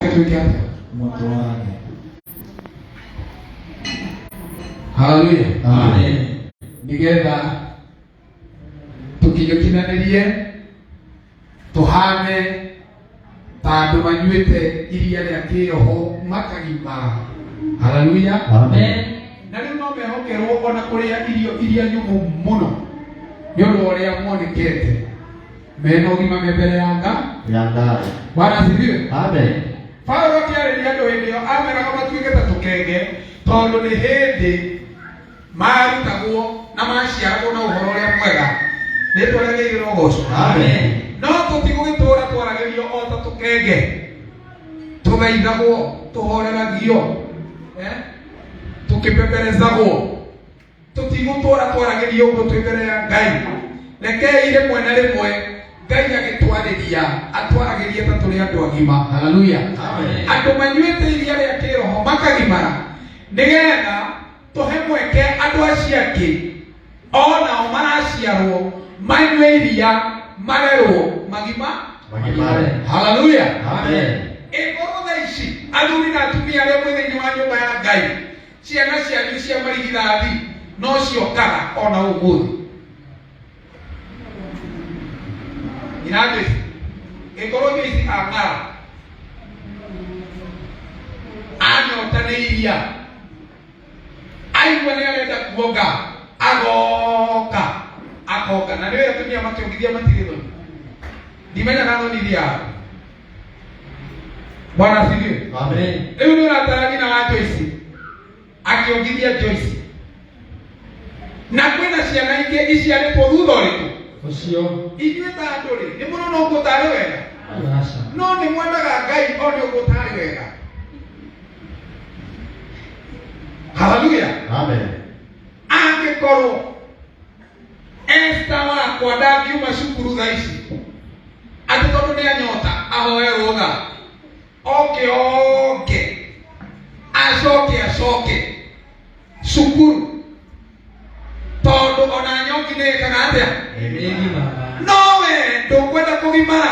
twĩke atĩa mũtwarane haleluya Amen. nĩgetha tũkinyũkinanĩrie tũhane ta andũ manyuĩte iria rĩa kĩroho makagimara haleluya Amen. na rĩu no mehokerwo ona kũrĩa irio iria nyũmũ mũno nĩ ũndũ wa ũrĩa monekete mena ũgima me mbere ya nga ya ngai bwana asifiwe amen paulo akĩarĩria andũ hĩndĩ ĩyo ameraga matuĩke ta tũkenge tondũ nĩ hĩndĩ marutagwo na maciaragwo na ũhoro ũrĩa mwega nĩ twaragĩrĩire ũgoco Amen. no tũtigũgĩtũra twaragĩrio o ta tũkenge tũgeithagwo tũhoreragio eh? tũkĩpeperezagwo tũtigũtũra twaragĩria ũguo twĩ mbere ya ngai rekei rĩmwe na rĩmwe ngai agĩtwarĩria atwaragĩria ta tũrĩ andũ agima haleluya andũ manyuĩte iria rĩa kĩroho makagimara nĩgetha tũhe mweke andũ acio angĩ onao maraciarwo manyue iria marerwo magima magimare haleluya ĩkorwo tha ici athuri na atumia arĩa mwĩ thĩinĩ wa nyũmba ya ngai ciana cianyu cia marigithathi no ciokaga ona ũmũthĩ inandĩci ĩkorwo mĩici ang'ara anyota nĩ iria aigua nĩ arenda kuonga agoka akoka na nĩ wĩra tumia makĩongithia matirĩ thoni ndimenyaga thoni iria bwana asifiwe Amen. rĩu nĩ ũratarani na wa joyce akĩongithia joyce na kwĩna ciana ingĩ iciarĩtwo thutha ũrĩkũ Ũcio. inyuĩ ta andũ rĩ nĩ mũrona ũguo tarĩ wega Aca. no nĩ mwendaga ngai one ũguo tarĩ wega haleluya Amen. angĩkorwo Esta wakwa ndangiuma cukuru thaa ici atĩ tondũ nĩ anyota ahoe rũtha oke oke acoke acoke cukuru tondũ ona nyoki nĩ ĩkaga atĩa Nĩ ngima. no we ndũkwenda kũgimara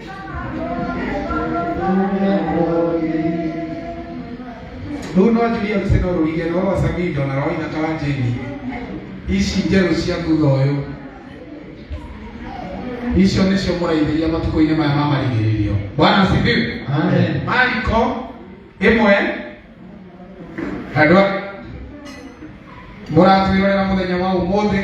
rä u no njuria mbica no rå ige no roca mindo na roina ta wa jeni ici njerå cia thutha å yå icio nä cio må raithä matukå-inä maya ma marigä rä rio bwana sifiwe Amen. mariko ĩmwe andũ a- mũratwĩrorera mũthenya wa ũmũthĩ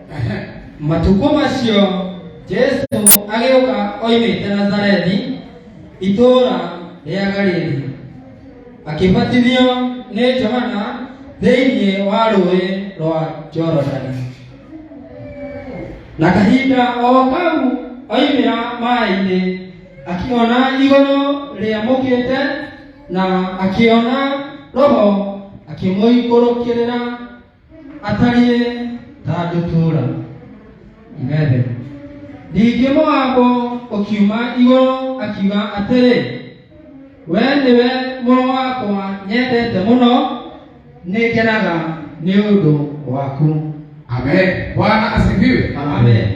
matukũ macio jesu agĩũka oimĩte nazarethi itũũra rĩa galili akĩbatithio nĩ johana thĩinĩ wa rũĩ rwa jorodani na kahinda o kau oimĩra maĩ-inĩ akĩona igũrũ rĩamũkĩte na akĩona roho akĩmũikũrũkĩrĩra atariĩ ta ndũtũũra imende ningĩ moabu ũkiuma igũrũ akiuga atĩrĩ we nĩwe mũrũ wakwa nyendete mũno nĩngenaga nĩ ũndũ waku amen bwana asifiwe amen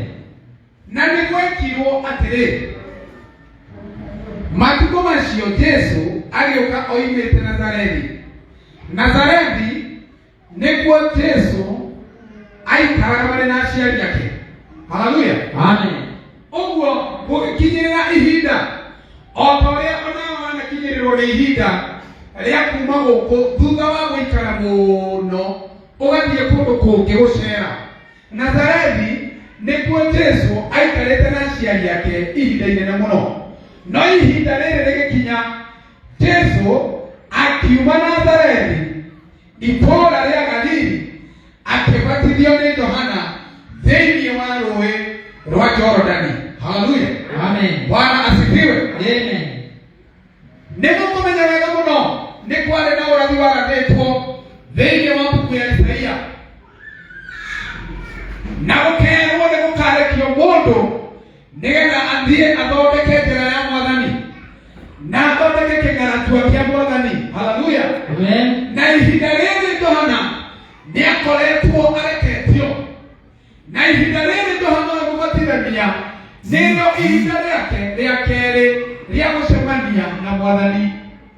na nĩ gwekirwo atĩrĩ matukũ macio jesu agĩũka oimĩte nazarethi nazarethi nĩguo jesu aikaraga marĩ na aciari ake haleluya Amen. ũguo gũgĩkinyĩrĩra ihinda o ta ũrĩa onao wanakinyĩrĩrwo nĩ ihinda rĩa kuma gũkũ thutha wa gũikara mũno ũgathiĩ kũndũ kũngĩ gũcera nazarethi nĩkuo jesu aikarĩte na aciari ake ihinda inene mũno no ihinda rĩrĩ rĩgĩkinya jesu akiuma nazarethi itũũra rĩa galili akĩbatithio nĩ johana thĩinĩ wa rũĩ rwa jorodani haleluya Amen. bwana asifiwe Amen. nĩguo kũmenya wega mũno nĩ kwarĩ na ũrathi waranĩtwo thĩinĩ wa mbuku ya isaia na gũkerwo nĩ gũkarekio mũndũ nĩgetha athiĩ athondeke njĩra ya mwathani na athondeke kĩgaratua kĩa mwathani haleluya Amen. na ihinda rĩrĩ johana nĩ akoretwo areketio na ihinda rĩrĩ johana ũyũ mũbatithania nĩrĩo ihinda rĩake rĩa kerĩ rĩa gũcemania na mwathani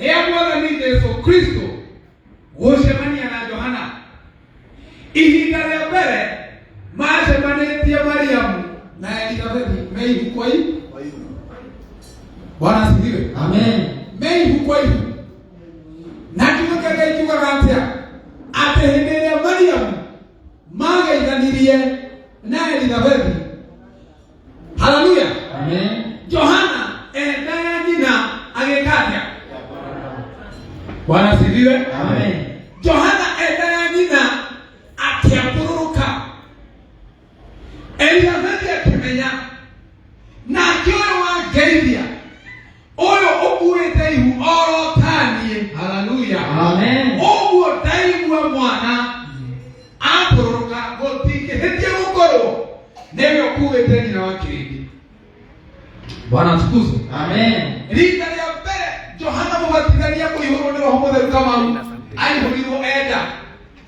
rĩa mwathani jesu kristo gũcemania na johana ihinda rĩa mbere macemanĩtie mariamu na elizabeti me ihuko ihu bwana asifiwe Amen. me ihuko ihu na kiugo kĩa ngai kiugaga atĩa atĩ hĩndĩ ĩrĩa mariamu mageithanirie na elizabeti haleluya Amen. johana endaga nyina agĩka atĩa bwana asifiwe Amen. johana endaga nyina akĩambũrũrũka elizabeti akĩmenya nake ũyũ wangeithia ũyũ ũkuĩte ihu orotaniĩ haleluya Amen. ũguo ndaigua mwana atũrũka gũtingĩhĩtie gũkorwo nĩwe ũkuĩte nyina wa kĩrĩndĩ bwana tukuzo Amen. rita rĩa mbere johana mũbatithania kũihũrwo nĩ roho mũtheru kamau aihũrirwo enda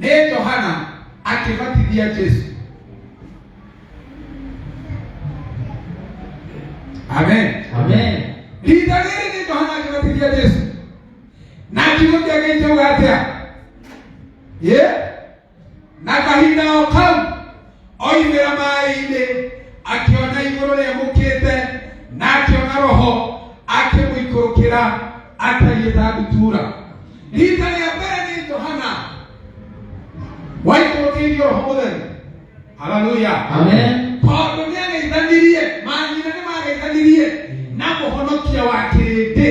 nĩ johana akĩbatithia jesu amen Amen. rita rĩrĩ nĩ johana akĩbatithia jesu na kiugo kĩa ngai kĩuga atĩa ye na kahinda o kau oimĩra maĩ-inĩ akĩona igũrũ rĩamũkĩte na akĩona roho akĩmũikũrũkĩra atariĩ ta ndutura rita rĩa mbere nĩ johana waikũrũkĩirio roho mũtheru haleluya Amen. tondũ nĩ ageithanirie manyina nĩ mageithanirie na mũhonokia wa kĩrĩndĩ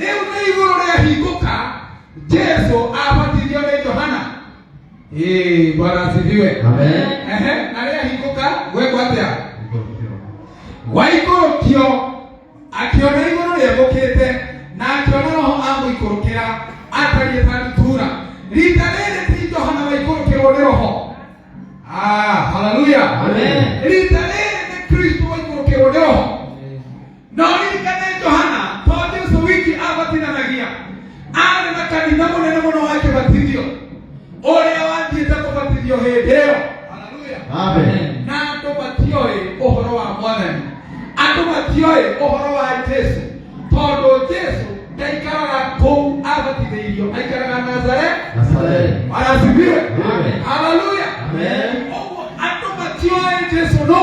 rĩu nĩ igũrũ rĩahingũka jesu abatithio nĩ johana Ee, bwana asifiwe Amen. Ehe, na rĩahingũka gwekwo atĩa waikũrũkio akĩona igũrũ rĩagũkĩte na akĩona roho amũikũrũkĩra atariĩ ta ndutura rita rĩrĩ ti johana waikũrũkĩrwo nĩ roho Ah, haleluya Amen. rita rĩrĩ nĩ kristo waikũrũkĩrwo nĩ roho No ririkane Johana to Jesu wiki abatithanagia arĩ na kanitha mũnene mũno wa kĩbatithio ũrĩa wathiĩte kũbatithio hĩndĩ ĩyo Haleluya. Amen. na andũ matioĩ ũhoro wa mwathani andũ matioĩ ũhoro wa jesu tondũ jesu ndaikaraga kũu abatithĩirio aikaraga nazare Nazareth. arasibiwe Amen. haleluya Amen. ũguo andũ matioĩ jesu no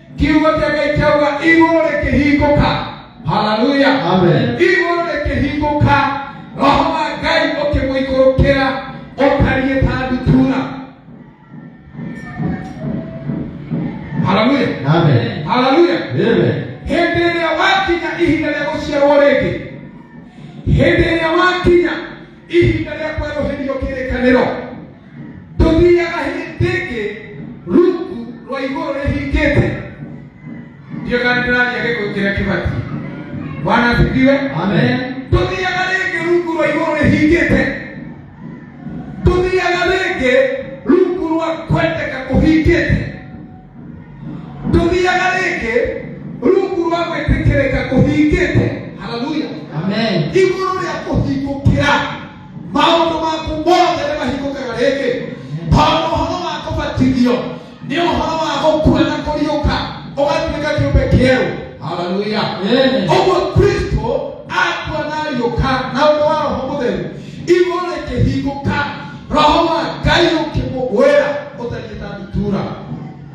kiugo kĩa ngai kĩauga igũrũ rĩkĩhingũka haleluya Amen. igũrũ rĩkĩhingũka roho wa ngai ũkĩmũikũrũkĩra ũtariĩ ta ndutura haleluya Amen. haleluya Amen. hĩndĩ ĩrĩa wakinya ihinda rĩa gũciarwo rĩngĩ hĩndĩ ĩrĩa wakinya ihinda rĩa kwerũhĩrio kĩrĩkanĩro tũthiaga hĩndĩ ĩngĩ rungu rwa igũrũ rĩhingĩte ndiyo kana ndĩraria gĩkũ kĩrĩa kĩbatiĩ bwana asifiwe Amen. tũthiaga rĩngĩ rungu rwa igũrũ rĩhingĩte tũthiaga rĩngĩ rungu rwa kwendeka kũhingĩte tũthiaga rĩngĩ rungu rwa gwĩtĩkĩrĩka kũhingĩte haleluya Amen. igũrũ rĩa kũhingũkĩra maũndũ maku mothe nĩ mahingũkaga rĩngĩ tondũ ũhoro wa kũbatithio nĩ ũhoro wa gũkua na kũriũka ũgatuĩka kĩũmbe kĩerũ haleluya Amen. ũguo kristo akua na ariũka na ũndũ wa roho mũtheru igũrũ rĩkĩhingũka roho wa ngai ũkĩmũgwĩra ũtariĩ ta ndutura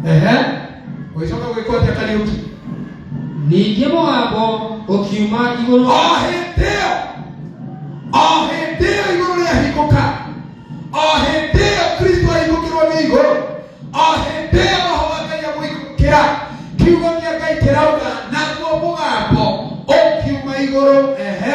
ehe ũgĩcoka gwĩkwo atĩa kariũki ningĩ mũgambo ũkiuma igũrũ o hĩndĩ ĩyo o hĩndĩ ĩyo igũrũ rĩahingũka o hĩndĩ ĩyo kristo ahingũkĩrwo nĩ igũrũ o hĩndĩ ĩyo roho wa ngai amũhingũkĩra kiugo gĩa ngai kĩrauga naguo mũgambo ũkiuma igũrũ ehe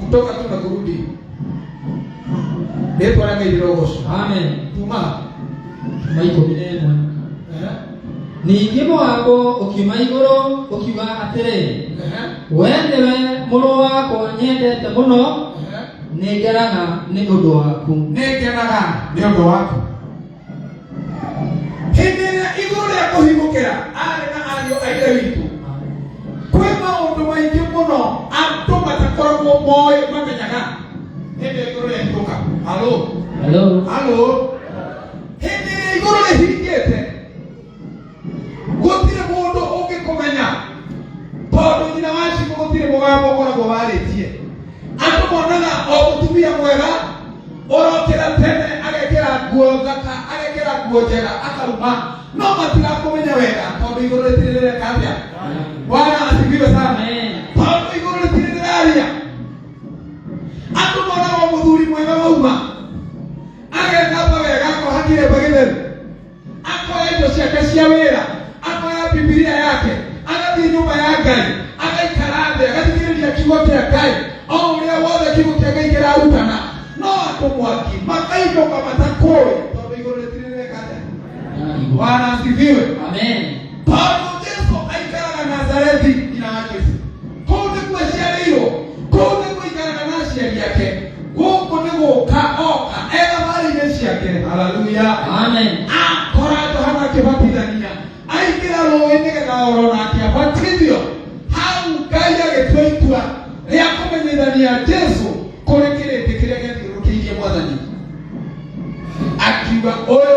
kutoka tu na kurudi ndipo na mimi rogoso amen tuma tuma iko binemwa eh ningĩ mũgambo ũkiuma igũrũ ũkiuga atĩrĩ eh we nĩwe mũrũ wakwa nyendete mũno eh nĩngeraga nĩ ũndũ waku nĩngenaga nĩ ũndũ waku hĩndĩ ĩrĩa igũrũ rĩa kũhimũkĩra arĩ na ariũ a ithe witũ kwĩ maũndũ maingĩ mũno andũ matakoragwo moĩ mamenyaga hĩndĩ ĩrĩa igũrũ rĩahingũka halo Hello. halo hĩndĩ ĩrĩa igũrũ rĩhingĩte gũtirĩ mũndũ ũngĩkũmenya tondũ nyina wa cibũ gũtirĩ mũgambo ũkoragwo warĩtie andũ monaga o mũtumia mwega ũrokĩra tene agekĩra nguo thaka agekĩra nguo njega akauma no matirakũmenya wega tondũ igũrũ rĩtirĩ rĩreka atĩa bwana asifiwe sana tondũ igũrũ rĩtirĩ rĩraria andũ monaga o mũthuri mwega wauma agethamba wega akoha kĩremba gĩtheru akoya indo ciake cia wĩra akoya bibilia yake agathiĩ nyũmba ya ngai agaikara thĩ agathikĩrĩria kiugo kĩa ngai o ũrĩa wothe kiugo kĩa ngai kĩrarutana no andũ mwaki makainũka matakũĩ tondũ igũrũ rĩtirireka atĩa bwana asifiwe Amen. paulo jesu aikaraga nazarethi ina wake kũu nĩkuo aciarĩirwo kũu nĩkuo aikaraga na aciari ake gũkũ nĩ gũka oka ena mari-inĩ ciake haleluya Amen. akora johana akĩbatithania aingĩra rũĩ nĩgetha oro nake abatithio hau ngai agĩtua itua rĩa kũmenyithania jesu kũrĩ kĩrĩndĩ kĩrĩa gĩathiũrũkĩirie mwathani akiuga ũyũ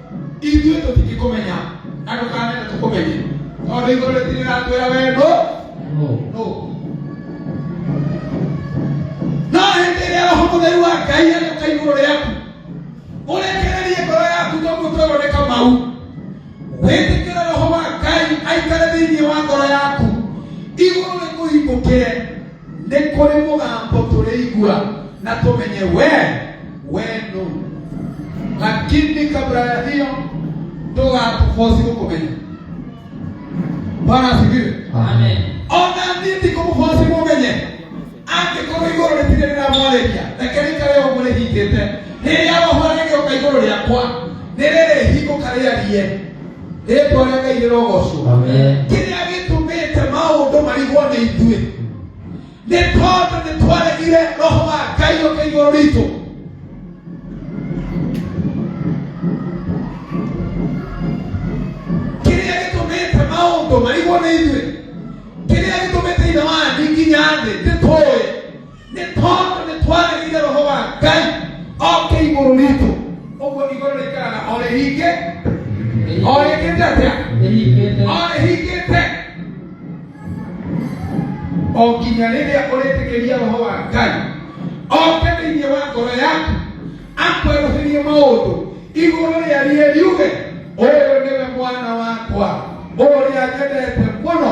ithuĩ tũtingĩkũmenya na ndũkanenda tũkũmenye tondũ igũrũ rĩtirĩratwĩra wendo no no hĩndĩ ĩrĩa roho mũtheru wa ngai agĩũka igũrũ rĩaku ũrekererie ngoro yaku toguo twĩrwo nĩ kamau wĩtĩkĩre roho wa ngai aikare thĩinĩ wa ngoro yaku igũrũ rĩkũhingũkĩre Nĩ kũrĩ mũgambo tũrĩigua na tũmenye we we nũ, lakini kabla ya hiyo ndũgatubosi gũkũmenya. Bwana asifiwe. Amen. Ona niĩ ndikũmũbosi mũmenye angĩkorwo igũrũ rĩtirĩ rĩramwarĩria reke rĩikare ũguo rĩhingĩte rĩrĩa roho rĩgĩũka igũrũ rĩakwa nĩ rĩrĩhingũka rĩarie rĩtwa rĩa ngai rĩrogocwo kĩrĩa gĩtũmĩte maũndũ marigwo nĩ ithuĩ nĩ tondũ nĩ twaregire roho wa ngai ũke igũrũ ritũ kĩrĩa gĩtũmĩte maũndũ marigwo nĩ ithuĩ kĩrĩa gĩtũmĩte ithe wanyu nginya thĩ nĩ tũĩ nĩ tondũ nĩ twarĩrire roho wa ngai oke igũrũ ritũ ũguo igũrũ rĩikaraga o rĩhingĩ o rĩkĩte atĩa Nĩnyitĩte. o rĩhingĩte o nginya rĩrĩa ũrĩtĩkĩria roho wa ngai oke thĩinĩ wa ngoro yaku akwerũhĩrie maũndũ igũrũ rĩa rie riuge ũyũ nĩwe mwana wakwa ũrĩa nyendete mũno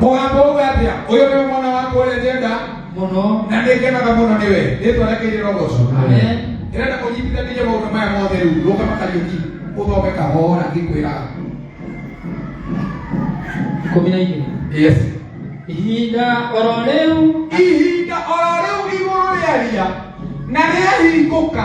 mũgambo uga atĩa ũyũ nĩwe mwana wakwa ũrĩa njenda mũno na nĩngenaga mũno nĩwe rĩtwa rĩake rĩrogoco Amen. ndĩrenda kũnyitithanĩria maũndũ maya mothe rĩu rũka makariũki ũthome kahora ngĩkwĩraga ikũmi na igĩrĩ yes ihinda oro rĩu ihinda oro rĩu igũrũ rĩaria na rĩahingũka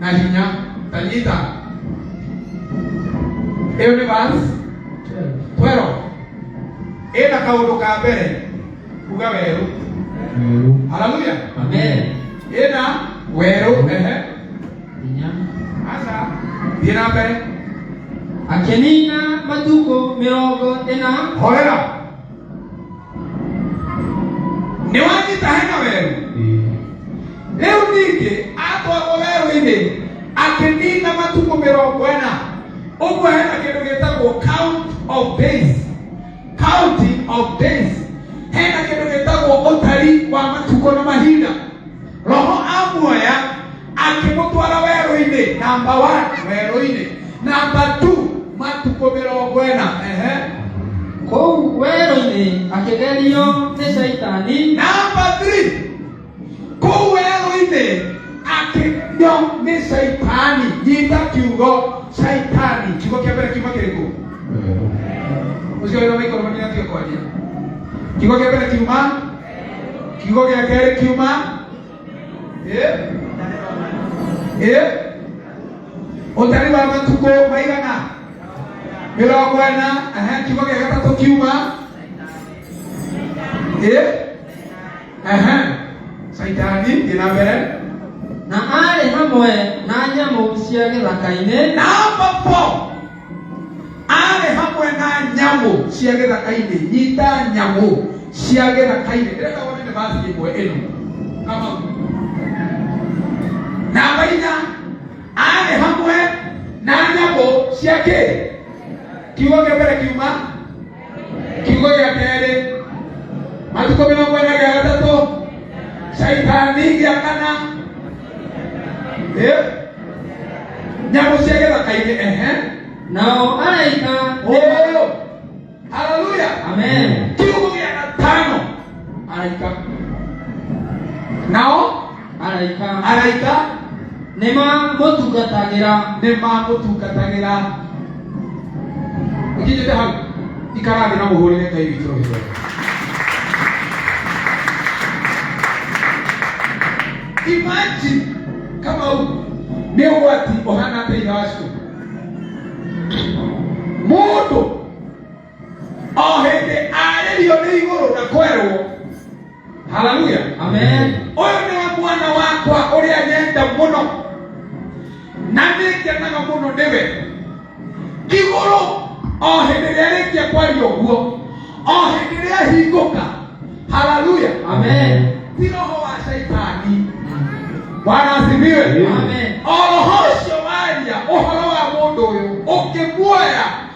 na hinya tanyita ĩyo nĩ vas 12 ĩna kaũndũ ka mbere kuga werũ haleluya Amen. ĩna werũ ehe Hinya. aca thiĩ na mbere Akĩnina matukũ mĩrongo ĩna horera nĩ wanyita hena werũ rĩu ningĩ atwarwo werũ-inĩ akĩnina matukũ mĩrongo ĩna ũguo hena kĩndũ gĩtagwo count of days counting of days hena kĩndũ gĩtagwo ũtari wa matukũ na mahinda roho amuoya akĩmũtwara werũ-inĩ namba one werũ-inĩ namba two matukũ mĩrongo ĩna ehe kũu werũ-inĩ akĩgerio nĩ caitani namba three kũu werũ-inĩ akĩgerio nĩ caitani nyita kiugo caitani kiugo kĩa mbere kiuma kĩrĩkũ ũcio wĩra maikoro manĩatio kwaria kiugo kĩa mbere kiuma kiugo gĩa kerĩ kiuma Eh? Eh? ũtari wa matukũ maigana mĩrongo ĩna ehe, kiugo gĩa gatatũ kiuma Eh? Ehe. caitani thiĩ na mbere na arĩ hamwe na nyamũ cia gĩthaka-inĩ na hapo arĩ hamwe na nyamũ cia gĩthaka-inĩ nyita nyamũ cia gĩthaka-inĩ ndĩrenda wone nĩ basi ĩmwe ĩno kama namba inya arĩ hamwe na nyamũ cia kĩ kiugo kĩa mbere kiuma kiugo gĩa kerĩ matukũ mĩrongo ĩna gĩa gatatũ caitani gĩa kana Eh? nyamũ cia gĩthaka-inĩ ehe Nao malaika ũyũ haleluya Amen. kiugo gĩa gatano araika nao araika araika nĩ mamũtungatagĩra nĩ mamũtungatagĩra ikinyĩte hau ikarathĩ na mũhũrĩre ngai witũ rũhĩro imagine kama u nĩ ũgwati ũhana atĩa ithe wa cukuru mũndũ o hĩndĩ arĩrio nĩ igũrũ na kwerwo haleluya Amen. ũyũ nĩwe mwana wakwa ũrĩa nyenda mũno na nĩngenaga mũno nĩwe igũrũ o hĩndĩ ĩrĩa rĩkia kwaria ũguo o hĩndĩ ĩrĩa hingũka haleluya Amen. ti roho wa shaitani bwana asifiwe Amen. o roho ũcio waria ũhoro wa mũndũ ũyũ ũkĩmuoya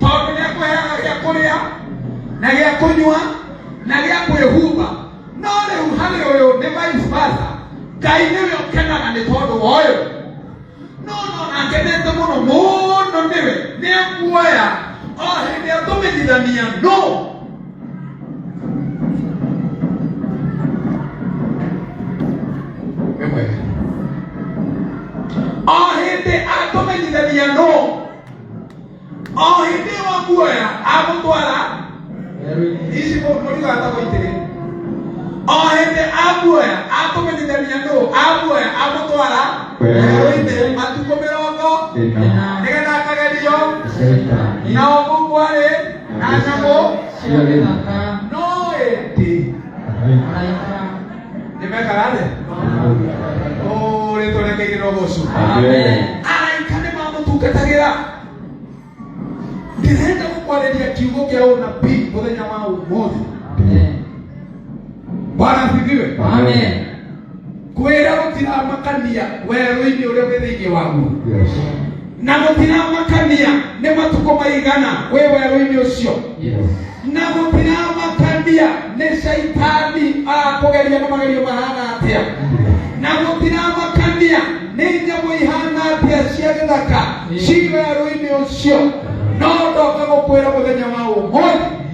tondũ nĩ akũheaga gĩa kũrĩa na gĩa kũnyua na gĩa kwĩhumba no rĩu harĩ ũyũ nĩ vice versa ngai nĩwe ũkenaga nĩ tondũ wa ũyũ no no nakenete mũno mũno nĩwe nĩ akuoya o hĩndĩ ĩyo tũmenyithania no Wĩ mwega. o hĩndĩ atũmenyithania no o hĩndĩ ĩyo wamuoya amũtwara ici mũtigatagwo itĩrĩ o hĩndĩ amuoya atũmenyithania nũ amuoya amũtwara werũ-inĩ matukũ mĩrongo nĩgetha akagerio na ũmũ kwarĩ na nyamũ cia gĩthaka no ĩndĩ Nĩmekaga thĩ. Ũrĩ tũrekeire no gũcu. Araika nĩ mamũtungatagĩra. Ndĩrenda gũkwarĩria kiugo kĩa ũnabii mũthenya wa ũmũthĩ. Bwana asifiwe. Kwĩra gũtiramakania werũ-inĩ ũrĩa wĩ thĩinĩ waguo. Yes. na gũtiramakania nĩ matukũ maigana wĩ werũ-inĩ ũcio Yes. na gũtiramakania nĩ caitani akũgeria na magerio mahana atĩa na gũtiramakania nĩ nyamũ ihana atĩa cia gĩthaka ci werũ-inĩ ũcio no ndoka gũkwĩra mũthenya wa ũmũthĩ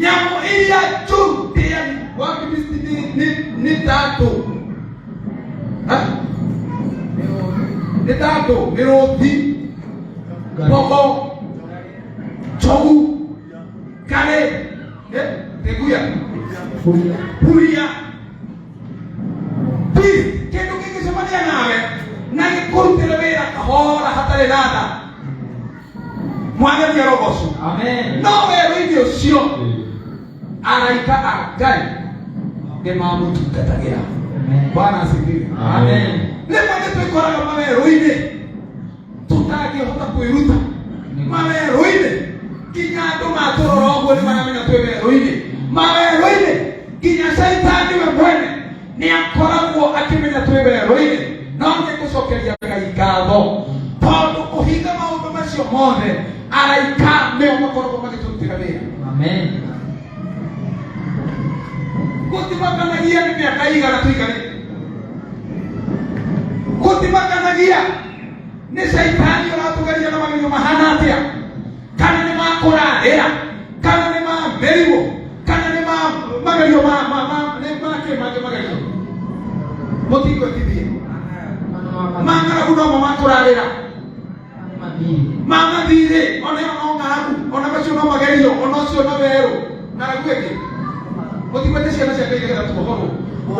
nyamũ iria njũru cia wafilisti nĩ- nĩ- nĩ tatũ Ha? nĩ tatũ nĩ rũti mbogo njogu karĩ eh, teguya huria Please, kĩndũ kĩngĩcemania nawe na gĩkũrutĩre wĩra kahora hatarĩ na tha mwageria rogoco Amen. no werũ-inĩ ũcio araika a ngai nĩ mamũtungatagĩra Amen. bwana asifiwe Amen. rĩmwe nĩ twĩkoraga mawerũ-inĩ tũtangĩhota kwĩruta mawerũ-inĩ nginya andũ matũrora ũguo nĩ maramenya twĩ werũ-inĩ mawerũ-inĩ nginya caitani we mwene nä akoragwo akĩmenya twĩ werũ-inĩ no nĩ gũcokeria ngai ngatho tondũ kũhinga maũndũ macio mothe araika nĩo makoragwo magĩtũrutĩra wĩra Amen. gũtimakanagia nĩ mĩaka igana tũikarĩte gũtimakanagia nĩ caitani ũratũgeria na magerio mahana atĩa kana nĩ makũra hĩa kana nĩ mamerirwo kana nĩ ma- magerio ma- ma- ma- nĩ makĩ mangĩ magerio mũtingwĩtithie mang'aragu nomo makũrarĩra mamathirĩ ona ĩyo no ng'aragu ona macio no magerio ona ũcio no werũ ng'aragu ĩngĩ mũtigwete ciana cia ngai nĩgetha tuohorwo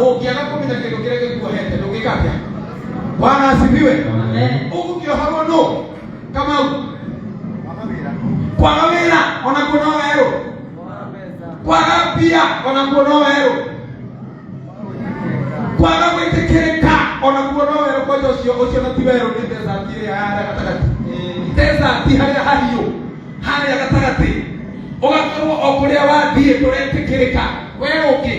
ũngĩaga kũmenya kĩndũ kĩrĩa gĩkuohete ndũngĩka atĩa bwana asifiwe Amen. ũgũkĩohorwo nũ kamau kwaga wĩra ona kuo no werũ kwaga mbia ona kuo no werũ kwaga gwĩtĩkĩrĩka ona kuo no werũ kwanja ũcio ũcio na ti werũ nĩ desert ĩrĩa ya harĩa gatagatĩ desert harĩa hahiũ harĩa gatagatĩ ũgakorwo o kũrĩa wathiĩ ndũretĩkĩrĩka werũ ũngĩ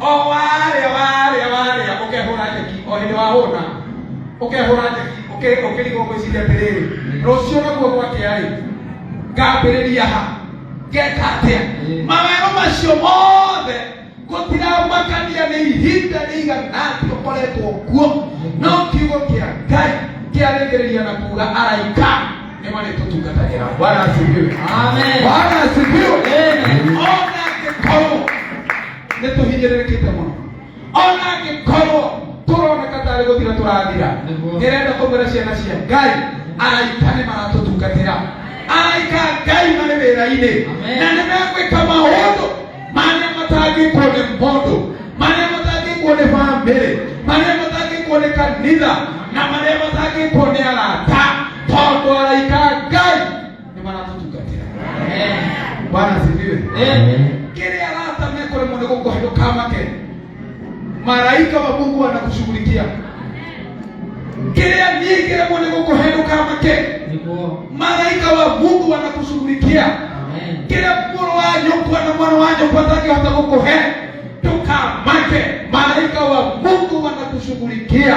o warĩa warĩa warĩa ũkehũra njeki o hĩndĩ wahũna ũkehũra njeki ũkĩ- ũkĩrigwo gwĩciria atĩrĩrĩ rũciũ naguo gwakĩa-rĩ ngambĩrĩria ha ngeka atĩa mawero macio mothe gũtiramakania nĩ ihinda rĩigana atĩ ũkoretwo kuo no kiugo kĩa ngai kĩarĩkĩrĩria na kuga araika Neema ni kutungata hela. Bwana asifiwe. Amen. Bwana asifiwe. Amen. Ona angĩkorwo nĩ tũhinyĩrĩrĩkĩte mũno. Ona angĩkorwo tũroneka tarĩ gũthira tũrathira. Nĩguo. Ndĩrenda kũmwĩra ciana cia Ngai araika nĩ maratũtungatĩra. Araika a Ngai marĩ wĩra-inĩ Amen. na nĩ megwĩka maũndũ marĩa matangĩkwo nĩ mũndũ marĩa matangĩkwo nĩ bamĩrĩ marĩa matangĩkwo nĩ kanitha na marĩa matangĩkwo nĩ arata tondũ araika a ngai nĩ maratũtungatĩra bwana sifiwe Amen. kĩrĩa arata mekũremwo nĩ gũkũhe ndũkamake maraika wa mungu anakushughulikia kĩrĩa niĩ kĩremwo nĩ gũkũhenũka make nĩguo maraika wa mungu anakushughulikia amen kĩrĩa mũrũ wa nyũkwa na mwana wa nyũkwa atangĩhota gũkũhe ndũkamake maraika wa mungu wanakushughulikia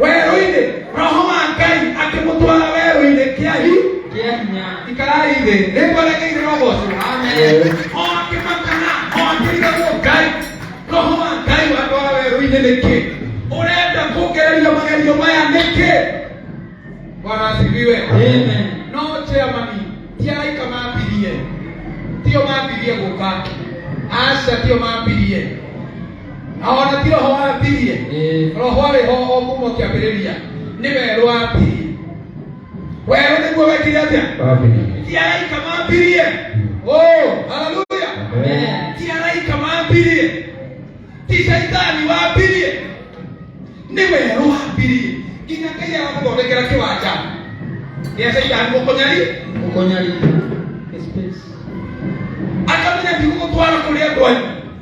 werũ-inĩ roho wa ngai akĩmũtwara werũ-inĩ kĩahi kĩa hinya ikarai thĩ nĩngweregeire roho ũcio Amen. o akĩmakana o akĩrigagwo ngai roho wa ngai watwara werũ-inĩ nĩkĩ ũrenda kũngereria magerio maya nĩkĩ bwana asifiwe Amen. no chairmani ti araika mambirie tio mambirie gũka aca tio mambirie na ona ti roho wambirie Ĩĩ. roho arĩ ho o kuma kĩambĩrĩria nĩ we rwambirie werũ nĩguo wekire atĩa ti araika mambirie o haleluya Amen. ti araika mambirie ti shaitani wambirie nĩ we rwambirie nginya ngai arakũthondekera kĩwanja gĩa shaitani gũkũnyari Gũkũnyarira. Space. akamenya ndigũgũtwara kũrĩa andũ anyu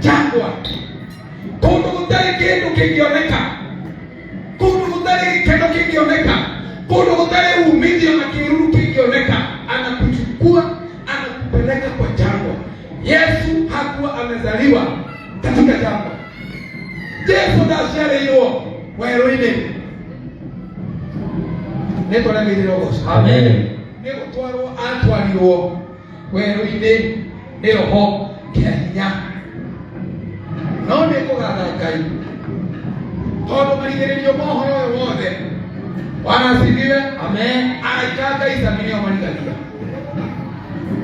jangwa kundu gutari kindu kingioneka kundu gutari gikeno kingioneka kundu gutari umithio na kiruru kingioneka anakuchukua anakupeleka kwa jangwa yesu hakuwa amezaliwa katika jangwa jesu ndaciarĩirwo werũ-inĩ nĩ twaremeire ũgoco Amen. nĩ gũtwarwo atwarirwo werũ-inĩ nĩyo ho kĩa hinya no nĩ kũgatha ngai tondũ marigĩrĩrio mohoro ũyũ wothe wanacindire amen araika ngai sami nĩo marigaria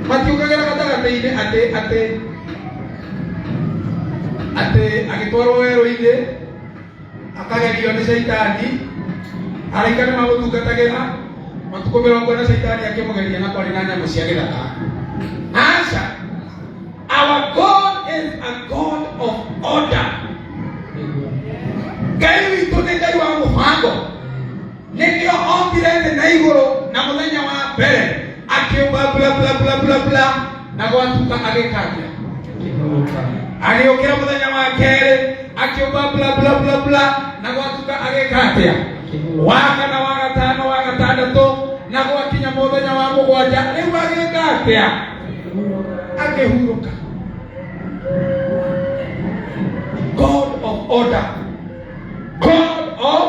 matiũkagĩra gatagatĩ-inĩ atĩ atĩ atĩ agĩtwarwo werũ-inĩ akagerio nĩ caitani araika nĩ magũtungatagĩra matukũ mĩrongo na caitani akĩmũgeria na kwarĩ na nyamũ cia gĩthaka aca our god is a god of order ngai witũ nĩ ngai wa mũbango nĩkĩo ombire thĩ na igũrũ na mũthenya wa mbere akĩũmba bla bla bla bla bla na gwatuka agĩkagĩa agĩũkĩra mũthenya wa kerĩ akĩũmba bla bla bla bla na gwatuka agĩka atĩa waka na wagatano wagatandatũ na gwakinya mũthenya wa mũgwanja rĩu agĩka atĩa akĩhurũka god of order god of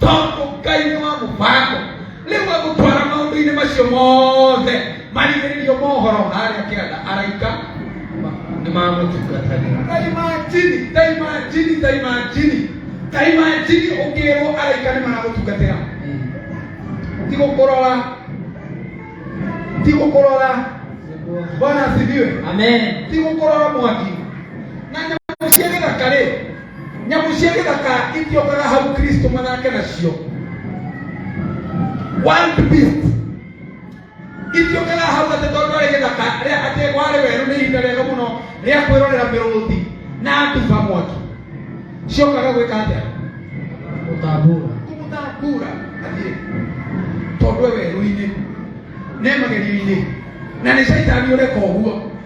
tondũ ngai nĩ wa mũbango rĩu agũtwara maũndũ-inĩ macio mothe marigĩrĩrio mohoro harĩa kĩanda araika nĩ mamũtungatagĩra ta imajini ta imajini ta imajini ta imajini ũkĩrwo araika nĩ maragũtungatĩra ti gũkũrora ti gũkũrora bwana asifiwe amen ti gũkũrora mwaki na nyamũ cia gĩthaka rĩ nyamũ cia gĩthaka itiokaga hau kristo mathake nacio wild beast itiokaga hau atĩ tondũ arĩ gĩthaka rĩa atĩ warĩ werũ nĩ ihinda rĩega mũno rĩa kwĩrorera mĩrũthi na nduba mwaki ciokaga gwĩka atĩa gũtambũra kũmũtambura athiĩ tondũ e werũ-inĩ ne magerio-inĩ na nĩ caitani ũreka ũguo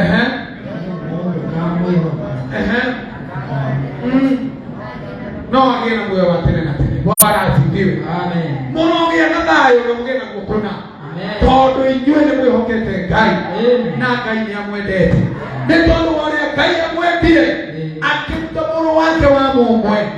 Ẹ̀hẹ́n. Ẹ̀hẹ́n. Mm. No agĩe na muoyo wa tene na tene. Bwana asifiwe. Mũrogĩa na thayũ na mũgĩe na gũkũna. Tondũ inyuĩ nĩ mwĩhokete Ngai na Ngai nĩ amwendete. Nĩ tondũ wa ũrĩa Ngai amwendire akĩruta mũrũ wake wa mũmwe